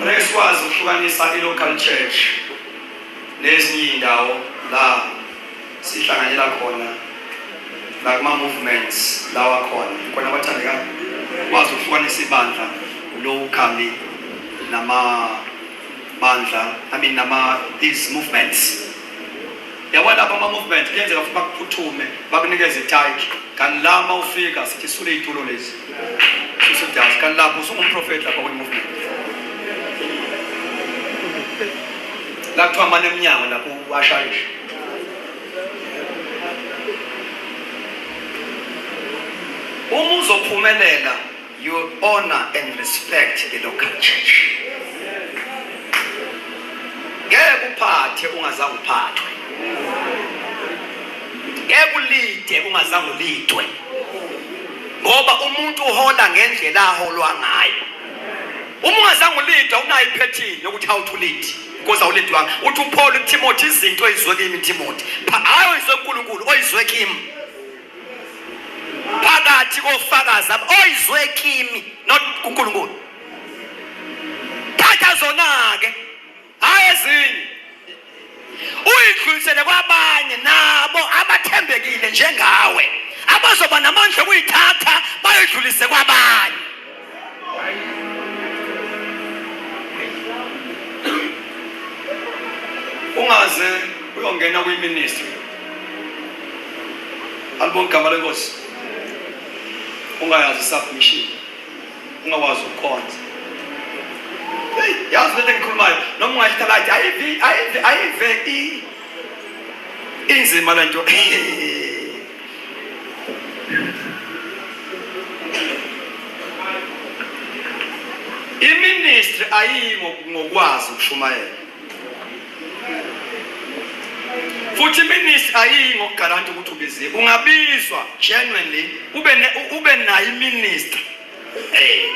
Ngeke sikwazi ukuhlukanisa i-local church nezinye iy'ndawo la sihlanganyela khona nakuma-movements lawa khona khona abathandeka kwazi ukuhlukanisa ibandla lokhali namabandla i mean nama-these movements Yabona lapha ama movement kuyenzeka futhi bakuphuthume bakunikeze itayiki kanti la uma ufika sithi sule iy'tulo lezi susidazi kanti lapho usungumprofethi lapha kwi-movement la kuthiwa mane emnyango lapho uwashayisha uma uzophumelela You honor and respect the local church. Ngeke uphathe ungazange uphathwe. Ngeke ulide ungazange ulidwe. Ngoba umuntu uhola ngendlela aholwa ngayo. Uma ungazange ulide unayo iphethini yokuthi awuthi ulide. Because awulidwanga. Uthi uPaul uTimothy izinto ezizwe kimi Timothy. Hayi oyizwe uNkulunkulu oyizwe kimi. phakathi kofakazi oyizwe kimi not kuNkulunkulu thatha zona-ke hhayi ezinye uyidlulisele kwabanye nabo abathembekile njengawe abazoba namandla okuyithatha bayidlulise kwabanye ungaze uyongena kwiministry alibona igama lenkosi ungayazi submission ungakwazi ukukhonza yazi lento engikhulumayo noma ungayitha lathi ayive ayive ayive inzima lento iministry ayiyi ngokwazi ukushumayela futhi iministry ayiyi ngokugaranta ukuthi ubiziwe ungabizwa genuinely ube ube nayo iministry eh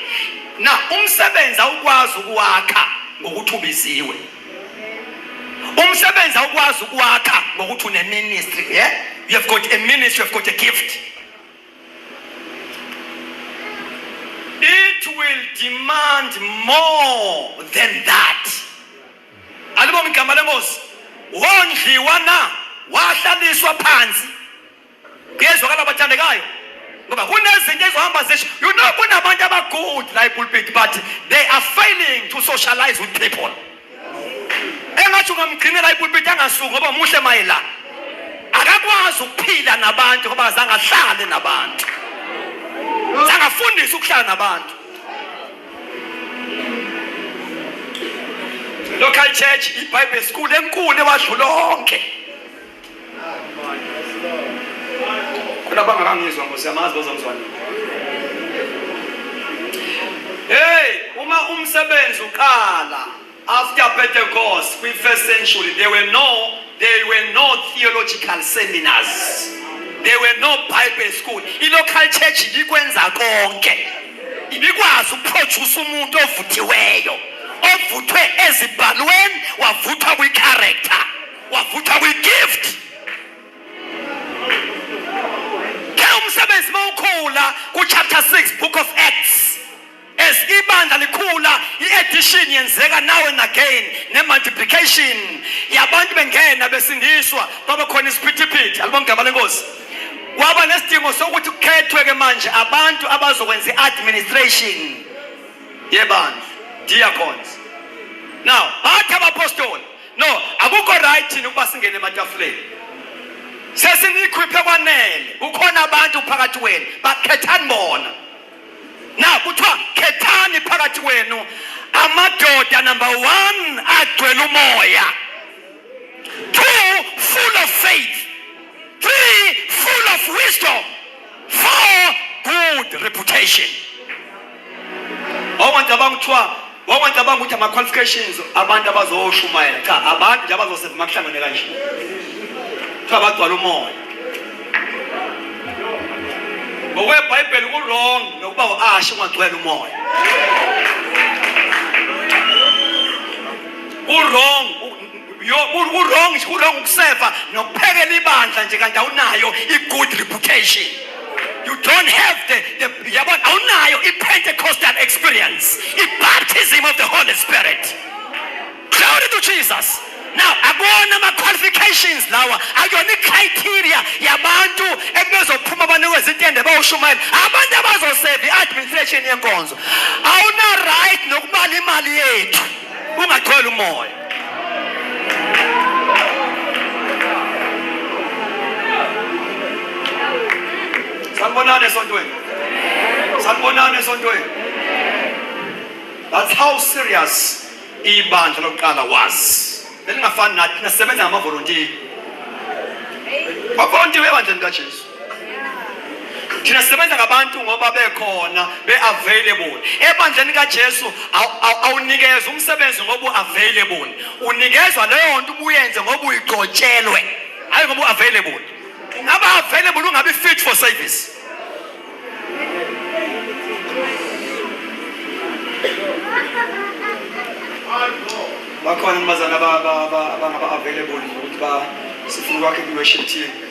na umsebenzi awukwazi ukuwakha ngokuthi ubiziwe umsebenzi awukwazi ukwakha ngokuthi uneministry yeah? you have got a ministry you have got a gift it will demand more than that alibonga igama lenkosi wondliwa na wahlaliswa phansi Kuyezwakala bathandekayo ngoba kunezinto ezohamba zisho you know kunabantu abagood la epulpit but they are failing to socialize with people engathi ungamgcinela ipulpit angasuki ngoba muhle mayela akakwazi ukuphila nabantu ngoba zange ahlale nabantu zange afundise ukuhlala nabantu local church ibhayibheli school enkulu ewadlulonke Khona bangakangizwa Nkosi yamazi bazokuzwa nini. Hey, uma umsebenzi uqala after Pentecost kwi first century there were no there were no theological seminars. There were no Bible school. I local church ibikwenza konke. Ibikwazi ukuproduce umuntu ovuthiweyo. Ovuthwe ezibhalweni wavuthwa kwi character. wavutha kwi-gift ke umsebenzi mawukhula ku-chapter 6 book of acts as ibandla likhula i-edition yenzeka now and again ne-multiplication yabantu bengena besindiswa kwaba khona isiphithiphithi alibamgama lenkosi kwaba nesidingo sokuthi kukhethwe-ke manje abantu abazokwenza i-administration yebandla diacons now bathi abapostoli No, akukho right thina ukuba singene ematafuleni. Sesinikhwiphe kwanele. Kukhona abantu phakathi wenu bakhethani bona. Na kuthiwa khethani phakathi wenu amadoda number 1 agcwele umoya. 2 full of faith. 3 full of wisdom. for good reputation wawungacabanga kuthiwa wawungacabanga ukuthi ama-qualifications abantu abazoshumayela cha abantu nje abazoseva makuhlangene kanje kuthiwa bagcwala umoya ngokwebhayibheli kurong nokuba u-ashe ungagcwela umoya kurong urong urong ukuseva nokuphekela ibandla nje kanti awunayo i-good reputation you don't have the, the yabona awunayo i-pentecostal experience i-baptism of the holy spirit glory to jesus now akona ama-qualifications lawa akuyona i-criteria yabantu ekubezophuma banikwe izintende bawushumayela abantu abazoseva i-administration yenkonzo awuna-right nokubala imali yethu ungatholi umoya Sanibonani esontweni. Sanibonani esontweni. That's how serious ibandla lokuqala was. Belingafani nathi nasebenza ngamavolontiya. Bavolontiya ebandleni kaJesu. thina sisebenza ngabantu ngoba bekhona be-available ebandleni kajesu awunikezwa umsebenzi ngoba u-available unikezwa leyo nto ubuyenze ngoba uyigcotshelwe hhayi ngoba u-available ungaba available ungabi fit for service bakhona abazali abangaba-available ukuthi sifuna ukwakhe kwi-worship team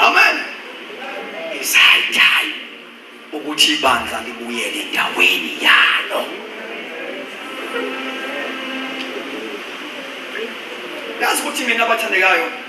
Amen. It's high time ukuthi ibandla libuyele endaweni yalo. Yazi ukuthi mina abathandekayo